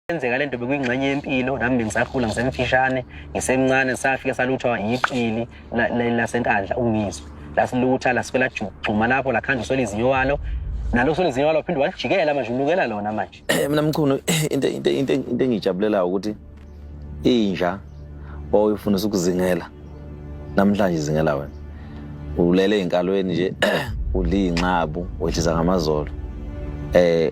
Kwenzeka lento bekuyingxenye yempilo nami bengisakhula ngisemfishane ngisemncane ngisafike saluthwa yiqili lasenkandla ungizwe lasilutha lasifela juma lapho lakhandla uswela izinyo walo nalo uswela izinyo walo phinde walijikela manje unukela lona manje mina mchunu into into into into engijabulelayo ukuthi inja oyifundisa ukuzingela namhlanje izingela wena ulele enkalweni nje udla iy'nxabu wehlisa ngamazolo eh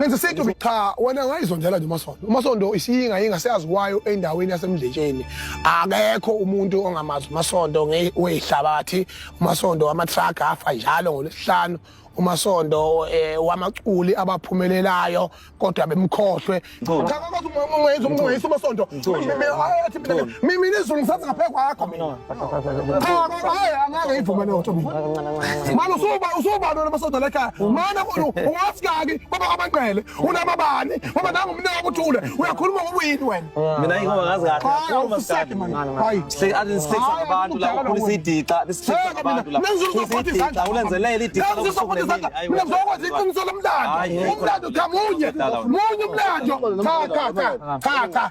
Ngenze sithi ukuthi cha wena ngayizondela nje uMasondo. UMasondo isiyinga yinga siyazi kwayo endaweni yasemdletsheni. Akekho umuntu ongamazi uMasondo ngeyihlabathi. UMasondo wama truck afa njalo ngolesihlanu. umasondo eh, wamaculi abaphumelelayo kodwa bemkhohlwe cha kwathi uma ungayizwa umasondo mina izulu ngisathi ngaphe kwakho mina angeke ivume leyo ntombi mani usubani wena masoda lekhaya mani ungasikaki kwaba kwamanqele unamabani ngoba nangu umnike akuthule uyakhuluma ngobuyini wena mina ingoba ngazi kahleabantu lakhulisa idixa ulenzelele idixaulenzokwenza iqiniso lomlando umlando cha munye munye umlando cha cha cha cha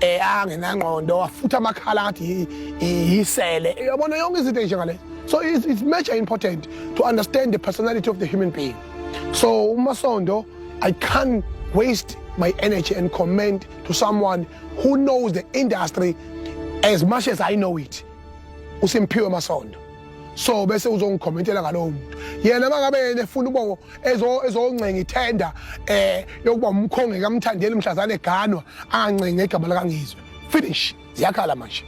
eh angenangqondo wafutha amakhala ngathi yisele uyabona yonke izinto enjengale so it's, it's major important to understand the personality of the human being so umasondo i can't waste my energy and comment to someone who knows the industry as much as i know it usimphiwe masondo so bese uzongikhomentela ngalowo muntu yena mangabe yena efuna ubo ezoncenga ithenda eh yokuba umkhonge kamthandeli mhlazane eganwa angancenga igama lakangizwe finish ziyakhala manje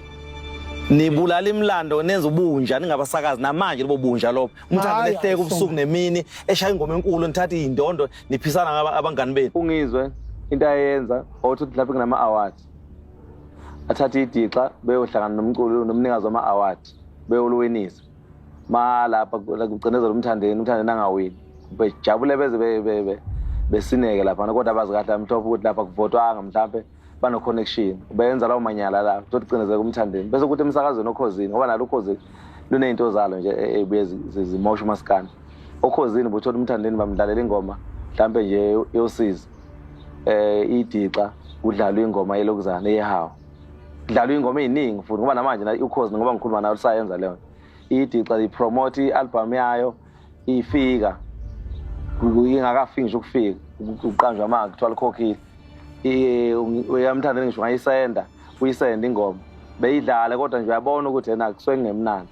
nibulala imlando nenza ubunja ningabasakazi namanje lobo bunja lobo umthanda lehleke ubusuku nemini eshaya ingoma enkulu nithatha izindondo niphisana ngaba abangani benu ungizwe into ayenza othi mhlawumbe kunama awards athatha idixa beyohlangana nomculo nomnikazi wama awards bewuluwinisa malapha kucinezela umthandeni umthandeni angawini bejabule beze besineke laphana kodwa abazi kahle amhlophe ukuthi lapha kuvotwanga mhlawumpe bano-connection benza lawo manyala la tothi cinezeka umthandeni bese kuthi emsakazweni okhozini ngoba nalo ukhozini luney'nto zalo nje ey'buye e, zimosha umasikana okhozini buthola umthandeni bamdlalela ingoma mhlawumpe nje yosizi um idixa kudlalwa ingoma yelokuzana yehawu kudlalwa ingoma eziningi futhi ngoba namanje na ukhozi ngoba ngikhuluma nayo lisayenza leyo idixa lipromote ialbum yayo ifika ingakafiki ngisho ukufika uqanjwa manje kuthiwa likhokhile uyamthandela ngisho ngayisenda uyisenda ingoma beyidlale kodwa nje uyabona ukuthi yena kusuke kungemnandi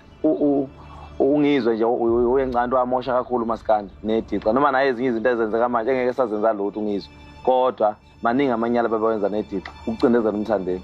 ungizwe nje uyencanto wamosha kakhulu umasikandi nedixa noma naye ezinye izinto ezenzeka manje engeke sazenza lutho ungizwe kodwa maningi amanyala bebawenza nedixa ukucindezela umthandeni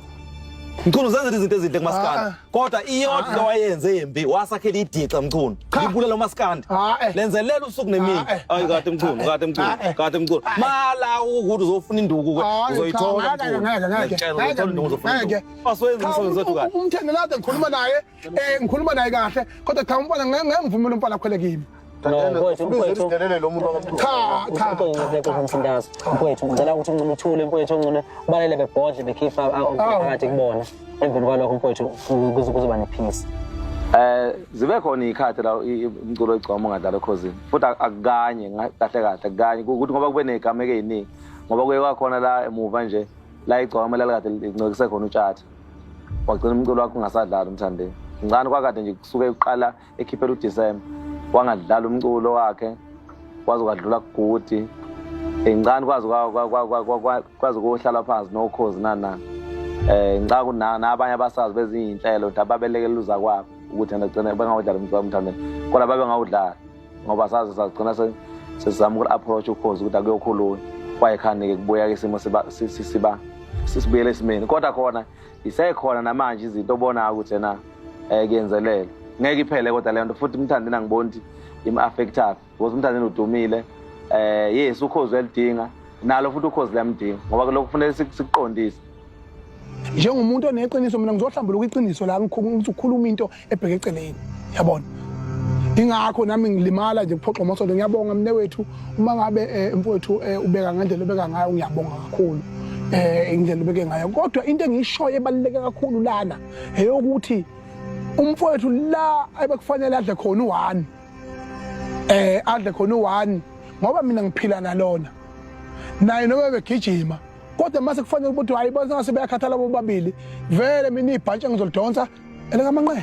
mchunu zenzela izinto ezinhle kumaskandi Ah. kodwa iyodwa into wayenze embi wasakhela idixa mchunu Cha. libulala umaskandi Ah, eh. lenzelela usuku nemini Ah, eh. ayi kade mchunu kade mchunu Ah, eh. kade mchunu mala ukuthi uzofuna induku ke Hayi, uzoyithola cha, ngeke, ngeke, ngeke, ngeke, ngeke, ngeke. Asiwenze umsebenzi wethu kahle umthengelade ngikhuluma naye Eh ngikhuluma naye kahle kodwa cha umfana ngeke ngeke ngivumele umfana akhwele kimi. No, mfowethu, mfowethu. Udelele lo muntu wakamthunzi. Cha, cha. Uqonqoze kuzo msindazo. Mfowethu, ngicela ukuthi unqunu uthule mfowethu onqunu balele bebhodle bekhipha phakathi kubona. Emveni kwalokho mfowethu kuzo kuzoba nephisi. Eh zibe khona ikhathi la umculo egcoma ungadlala ekhosini. Futhi akukanye kahle kahle akukanye ukuthi ngoba kube negameke eziningi. Ngoba kuye kwakhona la emuva nje la igcoma la likade lincokise khona utshatha. wagcina umculo wakho ungasadlali umthandeni ngicane kwakade nje kusuke kuqala ekhiphela udisemba wangadlala umculo wakhe kwaze kwadlula kugudi ngicane kwaze kwaze kohlala phansi nokhozi nanani um eh, ngicanga ukuthi nabanye abasazi bezinye iy'nhlelo ukuthi ababelekeluza kwabo ukuthi nagcine bengawudlala umculo wamthandeni kodwa babengawudlala ngoba saze sagcina sesizama uku-approach ukhozi ukuthi akuyokhulunywa kwayekhani-ke kubuya-ke isimo siba sisibuyele esimeni kodwa khona isekhona namanje izinto obonayo ukuthi ena um kuyenzelele ngeke iphele kodwa leyo nto futhi umthandeni angiboni ukuthi im-affectaphi because umthandeni udumile um yes ukhozi uyalidinga nalo futhi ukhozi liyamdinga ngoba lokhu kufanele sikuqondise njengomuntu oneqiniso mina ngizohlambuluka iqiniso la ukuthi ukhuluma into ebheke eceleni yabona ingakho nami ngilimala nje kuphoxa umasondo ngiyabonga mne wethu uma ngabe eh, mfowethu eh, ubeka ngendlela obeka ngayo ngiyabonga kakhulu eh indlela obeke ngayo kodwa into engiyishoyo ebaluleke kakhulu lana eyokuthi umfowethu la ebekufanele adle khona u1 eh adle khona u1 ngoba mina ngiphila nalona naye noma begijima kodwa mase kufanele ukuthi hayi bona ngase bayakhathala bobabili vele mina ibhantshi engizolidonsa elikamanqele